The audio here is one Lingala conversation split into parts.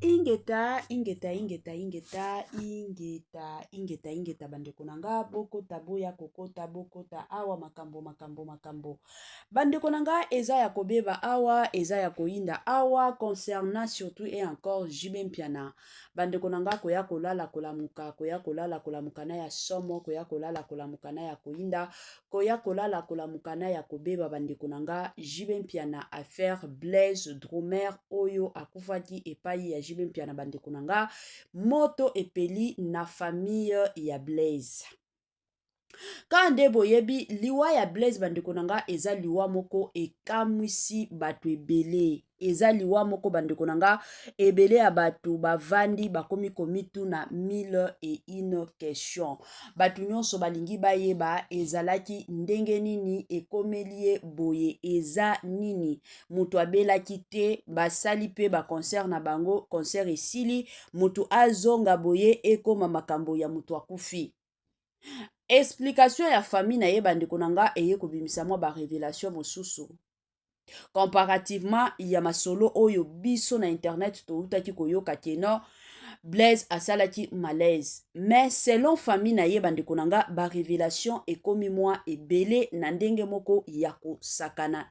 ingeta ingeta ingeta ingeta ingeta ingeta ingeta bandeko na nga bokota boya kokota bokota awa makambo makambo makambo bandeko na nga eza ya kobeba awa eza ya koyinda awa concernant surtout et encore jb mpiana Bandeko na nga koya kolala kolamuka, koya kolala kolamuka na ya somo, koya kolala kolamuka na ya koyinda, koya kolala kolamuka na ya kobeba bandeko na nga JB Mpiana affaire Blaise Dromer oyo akufaki epai ya JB Mpiana bandeko na nga moto epeli na famille ya Blaise. Kaka nde boyebi liwa ya Blaise bandeko na nga eza liwa moko ekamwisi bato ebele. Eza liwa moko bandeko na nga ebele ya bato bavandi bakomi komituna mille et une question. Bato nyonso balingi bayeba ezalaki ndenge nini ekomeli ye boye eza nini. Moto abelaki te basali mpe ba concert na bango concert esili moto azonga boye ekoma makambo ya moto akufi. explication ya famille na ye bandeko na nga eye kobimisa mwa barevelation mosusu comparativement ya masolo oyo biso na internet toutaki koyoka keno blaise asalaki malaise mais selon famille na ye bandeko na nga barevelation ekomi mwa ebele na ndenge moko ya kosakana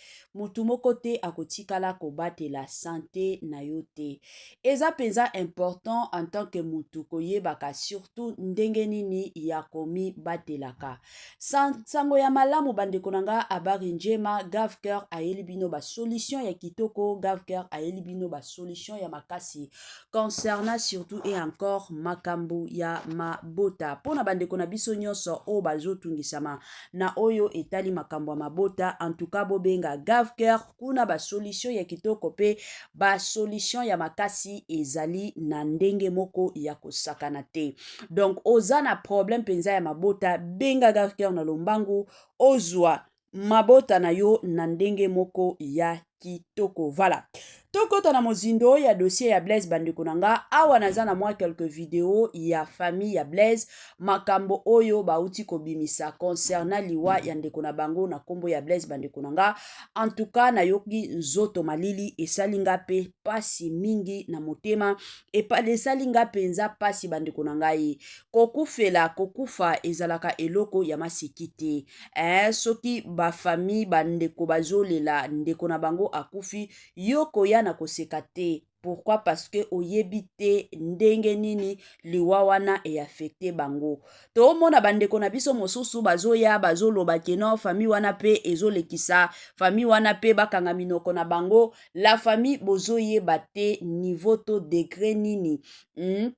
Moto moko te akotikala kobatela sante na yo te. Eza mpenza important en tant que moto koyebaka surtout ndenge nini ya komibatelaka. Sango ya malamu bandeko na nga habari njema Gavker ayeli bino ba solution ya kitoko, Gavker ayeli bino ba solution ya makasi concernant surtout et encore makambo ya mabota mpo na bandeko na biso nyonso oyo bazotungisama na oyo etali makambo ya mabota antuka bobenga gavker kuna basolution ya kitoko mpe basolution ya makasi ezali na ndenge moko ya kosakana te donc oza na problème mpenza ya mabota benga gavker na lombangu ozwa mabota na yo na ndenge moko ya kitoko vala tokota na mozindo ya dossier ya blaise bandeko na nga awa naza na mwa quelques video ya famille ya blaise makambo oyo bauti kobimisa concernant liwa ya ndeko na bango na nkombo ya blaise bandeko na nga en tout cas nayoki nzoto malili esali nga mpe mpasi mingi na motema epa esali nga mpenza mpasi bandeko na ngai kokufela kokufa ezalaka eloko ya maseki te eh, soki bafamille bandeko bazolela ndeko na bango akufi yo koya na koseka te pourquoi parce que oyebi te ndenge nini liwa wana eaffecte bango toomona bandeko na biso mosusu bazoya bazoloba keno famille wana mpe ezolekisa famille wana mpe bakanga minoko na bango la famille bozoyeba te niveau to degre nini hmm?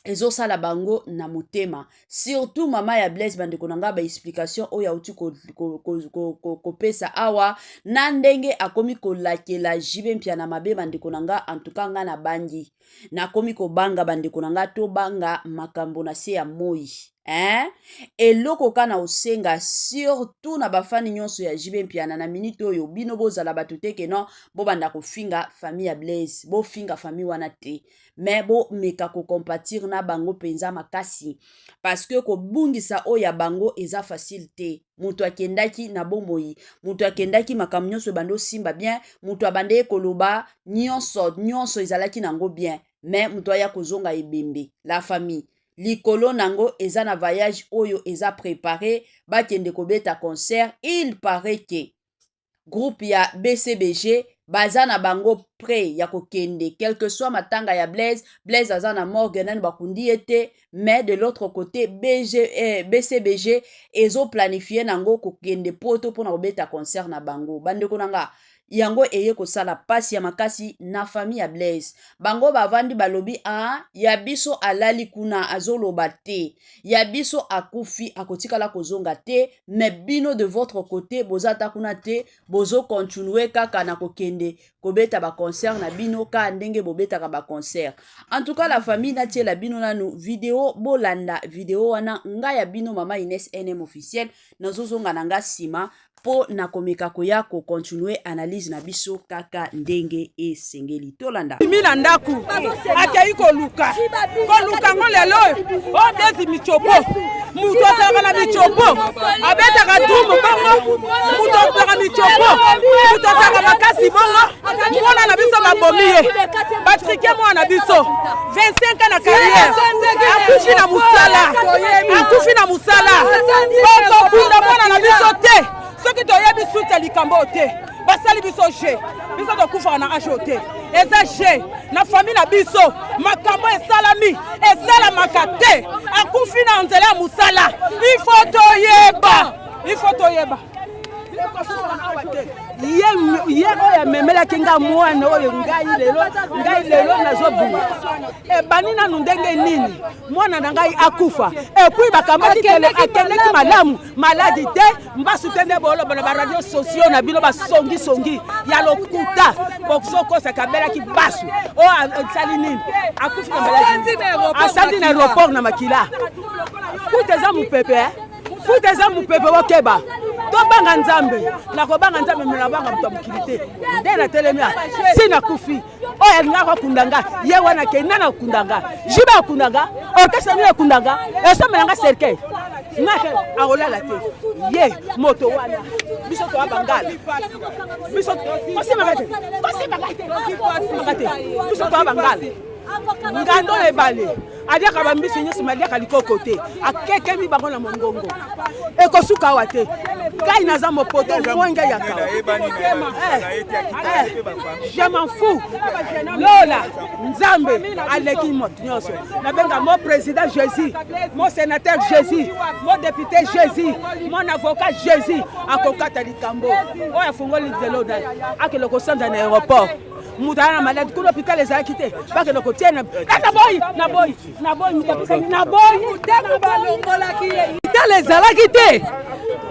ezosala bango na motema surtout mama ya blaise bandeko na ngai baexplication oyo auti kopesa ko, ko, ko, ko, ko, ko awa na ndenge akomi kolakela jibe mpia na mabe bandeko na ngai antuka ngai nabangi nakomi kobanga bandeko na ngai tobanga makambo na se ya moi eh? eloko ka na osenga surtout na bafani nyonso ya jibe mpiana na minite oyo bino bozala bato te keno bobanda kofinga famille ya blaise bofinga famille wana te me bomeka kocompatir na bango mpenza makasi parceke kobungisa oyo ya bango eza facile te moto akendaki na bomoi moto akendaki makambo nyonso ebandi osimba bien moto abandaki koloba nyonso nyonso ezalaki na yango bien me moto aya kozonga ebembe la famille likolo na yango eza na voyage oyo eza prepare bakende kobeta concert il parait ke groupe ya bcbg baza na bango près ya kokende quelque soit matanga ya blaise blaise aza na morgue nani bakundi ye te mais de l'autre côté BG, eh, bcbg ezoplanifie nango kokende poto mpo na kobeta concert na bango bandeko na nga yango eye kosala mpasi ya makasi na fami ya blaise bango bavandi balobi a ah, ya biso alali kuna azoloba te ya biso akufi akotikala kozonga te me bino de votre côté boza ata kuna te bozo continue kaka na kokende kobeta baconcert na bino kaka ndenge bobetaka baconcert en tout cas la famille natiela bino nanu video bolanda video wana ngai ya bino mama ines nm officiel nazozonga na ngai nsima mpo na komeka koya kocontinue analyse na biso kaka ndenge esengeli tolanda mi na ndako akei koluka koluka ngo lelo oyo bezi micopo moto azalaka na micopo abetaka dumu bongo moto azalaka micopo moto azalaka makasi bongo mwana na biso babomi ye batrike mwana na biso 25 ans na carrière akufi na musala akufi na musala bokobunda mwana na biso te soki toyebi suite ya likambo oyo te basali biso je biso tokufaka na age oyo te eza je na fami na biso makambo esalami esalamaka te akufi na nzela ya mosala ifo toyeba ifo toyeba ye oyo amemelaki nga mwana oyo ngai lelo ngai lelo nazobima ebani nanu ndenge nini mwana na ngai akufa epuis bakamati tele akendeki malamu maladi te mbasu te nde boloba na baradio socio na bino basongisongi ya lokuta bozokosa kabelaki basu oyo asali nini akufi na maladi asandi na aéroport na makila kuta eza mopepe futa eza mopepe bokeba tobanga nzambe nakobanga nzambe me nabanga moto ya mokili te nde natelemi a si nakufi oyo alingaka akunda nga ye wana kei nani akunda nga jibe akunda nga orkestre nini akunda nga esombela nga cercueil nake akolala te ye moto wana biso toya bangala biso kosimaka te kosimaka te biso toya bangala ngando na ebale aliaka bambisi nyonso me aliaka likoko te akekemi bango na mongongo ekosuka awa te ngai naza mopoto mwenge ya kawa eh, eh, je m'en fou lola nzambe aleki moto nyonso nabenga mo président jésus mo sénateur jésus mo député jésus mon avocat jésus akokata likambo oyo afungoli lelo akende kosanda na aéroport moto aya na maladi kuna hôpital ezalaki te bakenda kotia na naboyi naboyi naboyi moto apesaki naboyi motema balongolaki ye hôpital ezalaki te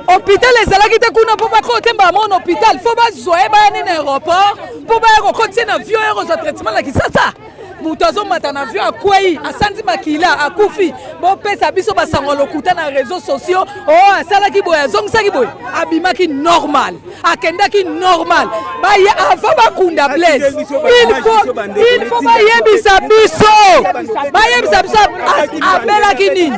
hôpital ezalaki te kuna mpo bakoo te mbala moko na hôpital fo bazwa ye baya nini aéroport mpo baya kokotisa na vio ya kozwa traitement na kisasa moto azomata na avion akwei asanzi makila akufi bopesa biso basango ya lokuta na réseau sociaux o oh, asalaki boye azongisaki boye abimaki normal akendaki normal baye avant bakunda blaise ilfo bayebisa biso bayebisa biso abelaki nini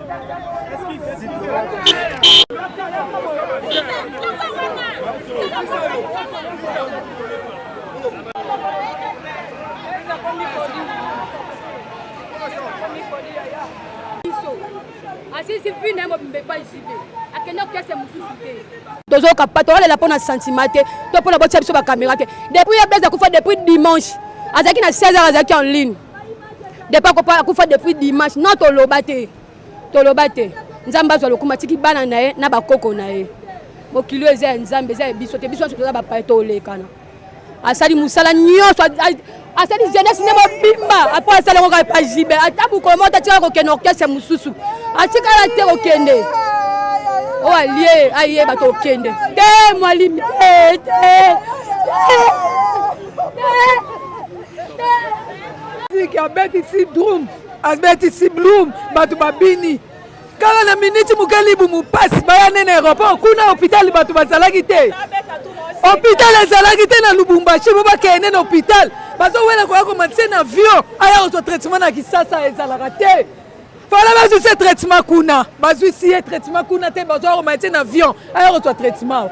asisi vi na ye mobimba epai zibe akenda kiase mosusu te tozoyoka pa tokolela mpo na sentiment te to mpo na botya biso bakamera te depuis ye blaise akufa depuis dimanche azalaki na 16 heures azalaki en ligne depa kopa akufa depuis dimanche non toloba te toloba te nzambe azwa lokumu atiki bana na ye na bakoko na ye mokili oyo eza ya nzambe eza ya biso te biso nyonso toza bapaye tolekana asali mosala nyonso asali jeunesse nde mobimba apo asala yango kaka epa jibe ata mokolo moko tatikala kokende orchestre mosusu atikala te kokende oyo alie ayeba tokende te mwalimi te te siki abetisi drum abetisi blum bato babini kaka na miniti moke libu mopasi baya nene aéroport kuna hôpital bato bazalaki te hôpital ezalaki te na lubumbashi po bakende na hôpital bazowela koya komatise na avion aya kozwa traitement na kisasa ezalaka te fala bazwi se traitement kuna bazwisi ye traitement kuna te bazwa komatise na avion aya kozwa traitement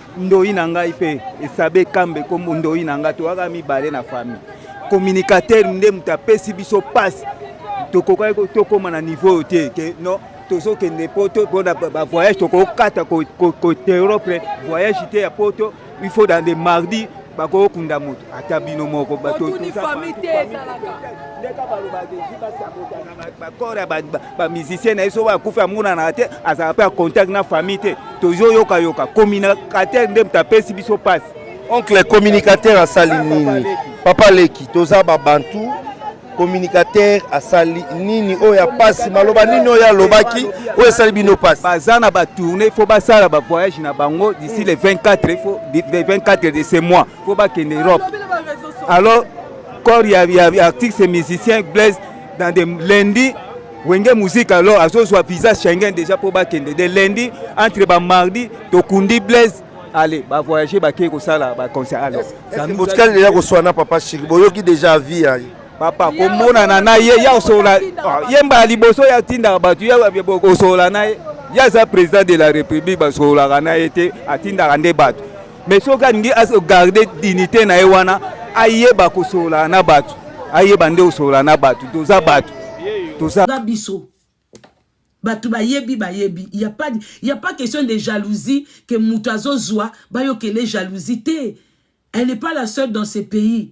ndoyi na ngai mpe esabe kambe kombo ndoyi na ngai toyaka mibale na famille communicateur nde moto apesi biso mpasi tokokaki tokóma na niveau oyo te ke non tozokende poto mpona bavoyage tokokata koteropre voyage te ya poto il faut dans le mardi bakokunda moto ata bino moko bato ndeka balobaka esi basabotana bakore ba musicien na ye soki akufi amonanaka te azalaka mpe ya contact na famille te tozoyokayoka communicateur nde moto apesi biso mpasi oncle communicateur asali nini papa leki toza babantu communicateur asali nini oyo ya mpasi maloba nini oyo alobaki oyo esali bino mpasi baza na batourne il faut basala bavoyage na bango d'ici le 24 faut, le 24 de ce mois faut bakende europe alors corps ya, ya, ya artiste musicien blaise dans de lundi wenge musique alors azozwa visa schengen déjà mpo bakende de lundi entre bamardi tokundi blaise ale bavoyage bakei kosala baconcert alors botikali deja koswana papa shiri boyoki deja avi ya papa komonana na ye ya osola ye mbala liboso ya tindaka bato ya osola na ye ye aza président de la république basololaka na ye te atindaka nde bato mais soki alingi agarde dignité na ye wana ayeba kosolola na bato ayeba nde kosolola na bato toza bato toza biso bato bayebi bayebi ya pas, ya pas question de jalousie ke moto azozwa bayokele jalousie te elle n'est pas la seule dans ce pays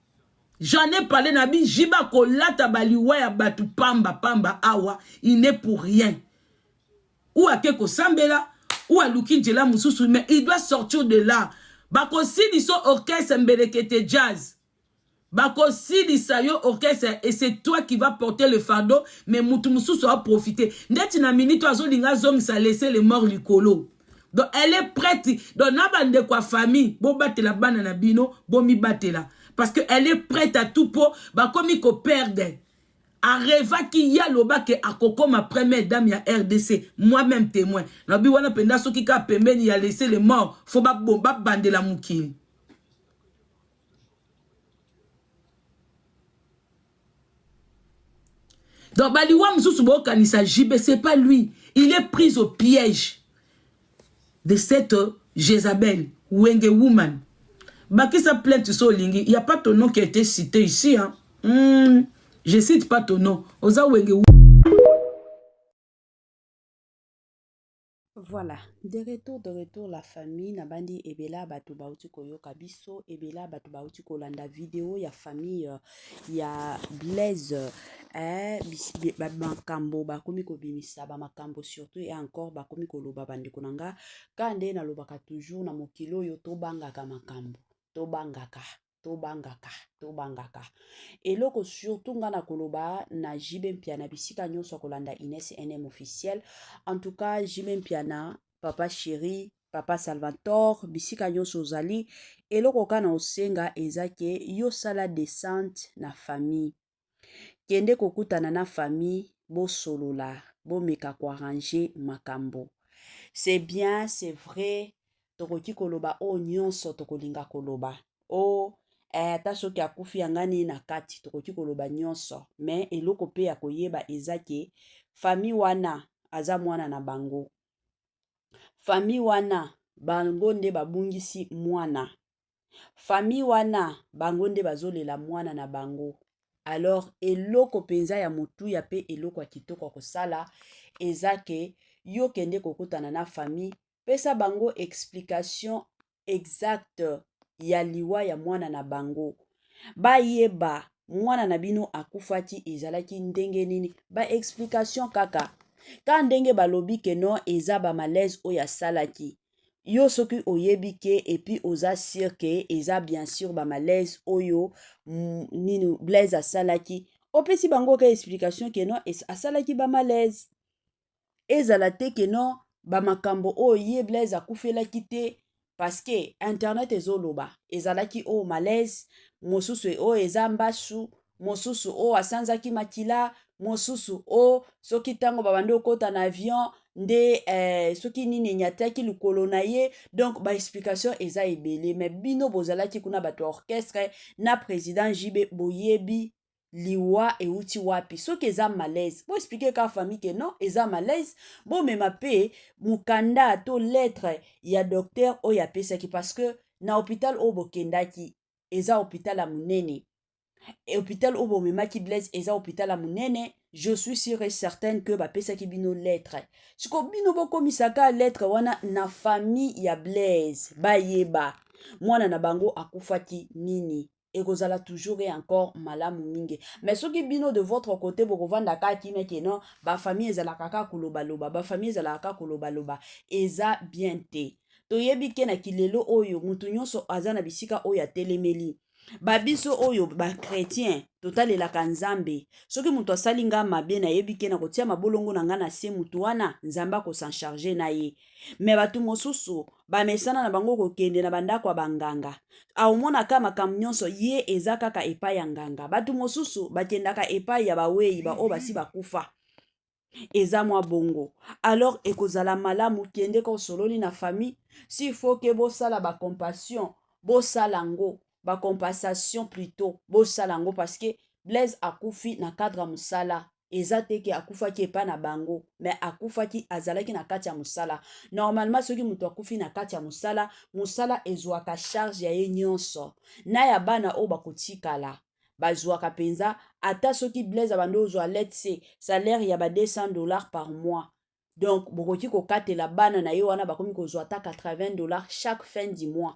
J'en ai parlé na bi jiba kolata baliwa ya batu pamba pamba awa il n'est pour rien. Ou ake kosambela ou aluki njela mususu mais il doit sortir de là. Bakosilisa orchestre mbelekete jazz. Bakosilisa yo orchestre et c'est toi qui va porter le fardeau mais mutu mususu a profiter. Ndeti na minute azolinga zongisa laisser les morts likolo. donc elle est prête donc na bandeko ya famille bobatela bana na bino bomibatela parce que elle est prête à tout mpo bakomi koperde arevaki ye alobaki akokoma première dame ya rdc moi-même témoin nabi wana mpenza soki kaka pembeni ya laisse le mort fo babandela mokili donc baliwa mosusu bokanisa jb c'est pas lui il est pris au piège de cette jezabel wenge woman bakisa plainte so olingi il y a pas ton nom qui a été cité ici hein? mm, je cite pas ton nom oza wenge Voilà, de retour de retour la famille na bandi ebela bato bauti koyoka biso ebela bato bauti kolanda video ya famille euh, ya Blaise eh, makambo bakomi kobimisa bamakambo surtout e encore bakomi koloba bandeko na nga ka nde nalobaka toujours na mokili oyo tobangaka makambo tobangaka tobangaka tobangaka eloko surtout nga nakoloba na jibe mpiana bisika nyonso akolanda ines nm officiel en tout cas jibe mpiana papa chéri papa salvator bisika nyonso ozali eloko ka na osenga eza ke yo sala descente na famille Kende kokutana na famille, bosolola, bomeka ko arranger makambo. C'est bien, c'est vrai, tokoki koloba oyo nyonso tokolinga koloba. Oh, eh, ata soki akufi yanga nini na kati, tokoki koloba nyonso. Mais eloko pe ya koyeba eza ke famille wana aza mwana na bango. Famille wana bango nde babungisi mwana famille wana bango nde bazolela mwana na bango alors eloko mpenza ya motuya mpe eloko ya kitoko ya kosala eza ke yo kende kokutana na famille pesa bango explication exacte ya liwa ya mwana na bango bayeba mwana na bino akufaki ezalaki ndenge nini ba explication kaka ka ndenge balobi ke non eza ba malaise oyo asalaki yo soki oyebi ke epuis oza sur ke eza bien sur ba malaise oyo mm, nini blaise asalaki opesi bango ka explication ke non asalaki ba malaise ezala te ke non bamakambo oyo ye blaise akufelaki te parceke internet ezoloba ezalaki oyo malaise mosusu oyo eza mbasu mosusu o asanzaki makila mosusu o soki ntango babandi okota na avion nde eh, soki nini enyataki likolo na ye donc baexplication eza ebele me bino bozalaki kuna bato ya orchestre na président jb boyebi liwa euti wapi soki eza malaise boexplike kaka famille ke non eza malaise bomema mpe mokanda to lettre ya docteur oyo apesaki parce que na hôpital oyo bokendaki eza hôpital ya monene hôpital oyo bomemaki blaise eza hôpital ya monene je suis sur et certaine que bapesaki bino lettre siko bino bokomisaka lettre wana na famille ya blaise bayeba mwana na bango akufaki nini ekozala toujours et encore malamu mingi mais soki bino de votre côté bokovanda kaka kimia ke non bafamille ezalaka kaka kolobaloba bafamille ezalaka kaka kolobaloba eza bien te toyebi ke na kilelo oyo moto nyonso aza na bisika oyo atelemeli babiso oyo bakretien totalelaka nzambe soki moto asali ngai mabe nayebi ke nakotia mabolongo na ngai na se motu wana nzambe akosancharge na ye me bato mosusu bamesana na bango kokende na bandako ya banganga aomonaka makambo nyonso ye eza kaka epai ya nganga bato mosusu bakendaka epai ya bawei baoyo basi bakufa eza mwa bongo alors ekozala malamu kende ka osololi na famille s'il faut ke bosala bacompassion bosala yango bacompensation plutot bosala yango parce que blaise akufi na cadre ya mosala eza te ke akufaki epai na bango me akufaki azalaki na kati ya mosala normalement soki moto akufi na kati ya mosala mosala ezwaka charge ya ye nyonso na ya bana oyo bakotikala bazwaka mpenza ata soki blaise abandi ozwa let's say salaire ya ba 200 dollars par mois donc bokoki kokatela bana na ye wana bakomi kozwa ata 80 dollars chaque fin du mois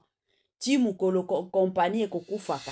ti mokolo kompani ekokufaka